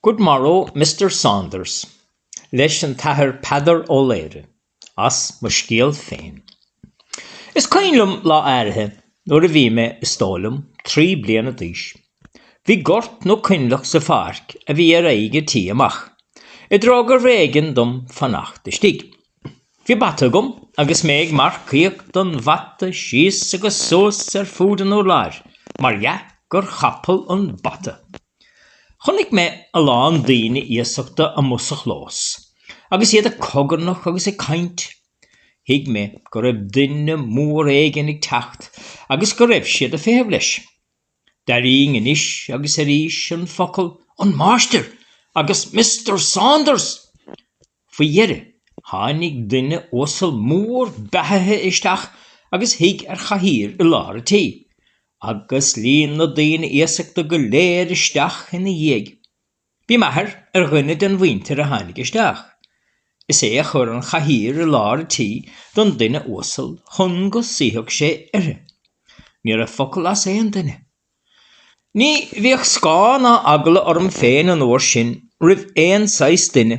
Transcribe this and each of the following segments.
Good morrow, Mister Saunders, leis an Athair Peadar Ó Laoghaire, as mo scéal féin. Is cuimhin liom lá áirithe nuair a bhí mé, is dóigh liom, trí bliana d'aois. Bhí gort nó coinleach sa pháirc a bhí ar aghaidh an tí amach, i dtreo gurbh éigean dom fanacht istigh. Bhí bata agam agus mé ag marcaíocht den bhata síos agus suas ar fúd an urláir, mar dhea gur chapall an bata. Chonaic mé a lán daoine iasachta amuigh sa chlós, agus iad ag cogarnach agus ag caint. Thuig mé go raibh duine mór éigin ag teacht agus go raibh siad ag feitheamh leis. D'airínn anois agus arís an focal An Máistir! agus Mister Saunders! Faoi dheireadh, tháinig duine uasal mór beathaithe isteach agus shuigh ar chathaoir i lár an tí, agus líon na daoine iasachta go léir isteach ina dhiaidh. Bhí m'athair ar dhuine den mhuintir a tháinig isteach. Is é a chuir an chathaoir i lár an tí don duine uasal chun go suífeadh sé uirthi. Ní raibh focal as aon duine. Ní bhíodh scáth ná eagla orm féin an uair sin roimh aon saghas duine,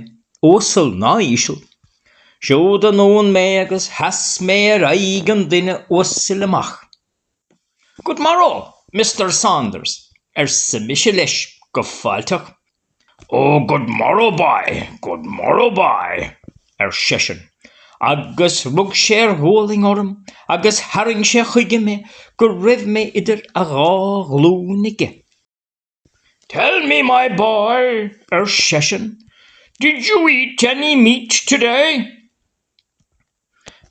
uasal ná íseal. Siúd anonn mé agus sheas mé ar aghaidh an duine uasail amach. Good morrow, Mister Saunders, arsa mise leis go fáilteach. Ó, good morrow, boy! Good morrow, boy! ar seisean, agus rug sé ar ghualainn orm agus tharraing sé chuige mé go raibh mé idir a dhá ghlúin aige. Tell me, my boy, ar seisean, did you eat any meat today?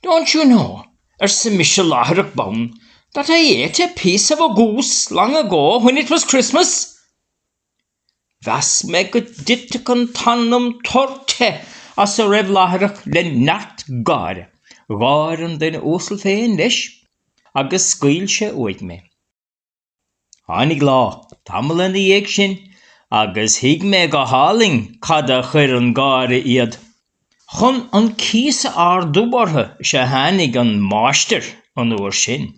Don't you know, arsa mise láithreach bonn, that I ate a piece of a goose long ago when it was Christmas? Mheas mé go dtitfeadh an t-anam tur te as a raibh láithreach le neart gáire. Gháir an duine uasal féin, leis, agus scaoil sé uaidh mé. Tháinig lá, tamall ina dhiaidh sin, agus thuig mé go hálainn cad a chuir ag gáire iad. Chun an cíos a ardú orthu is ea a tháinig an máistir an uair sin.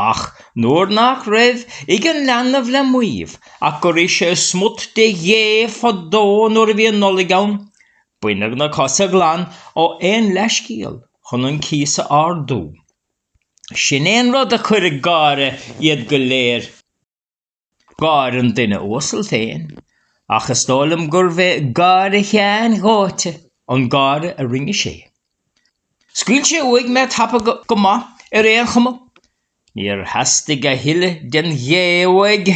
Ach nuair nach raibh ag an leanbh le maíomh ach gur ith sé smut de ghé fadó nuair a bhí an Nollaig ann, baineadh na cosa glan ó aon leathscéal chun an cíos a ardú. Sin é an rud a chuir ag gáire iad go léir. Gháir an duine uasail féin, ach is dóigh liom gurbh é gáire Sheáin dóite an gáire a rinne sé. Scaoil sé uaidh mé tapa go maith ar aon chuma. Níor theastaigh a thuilleadh den ghé uaidh.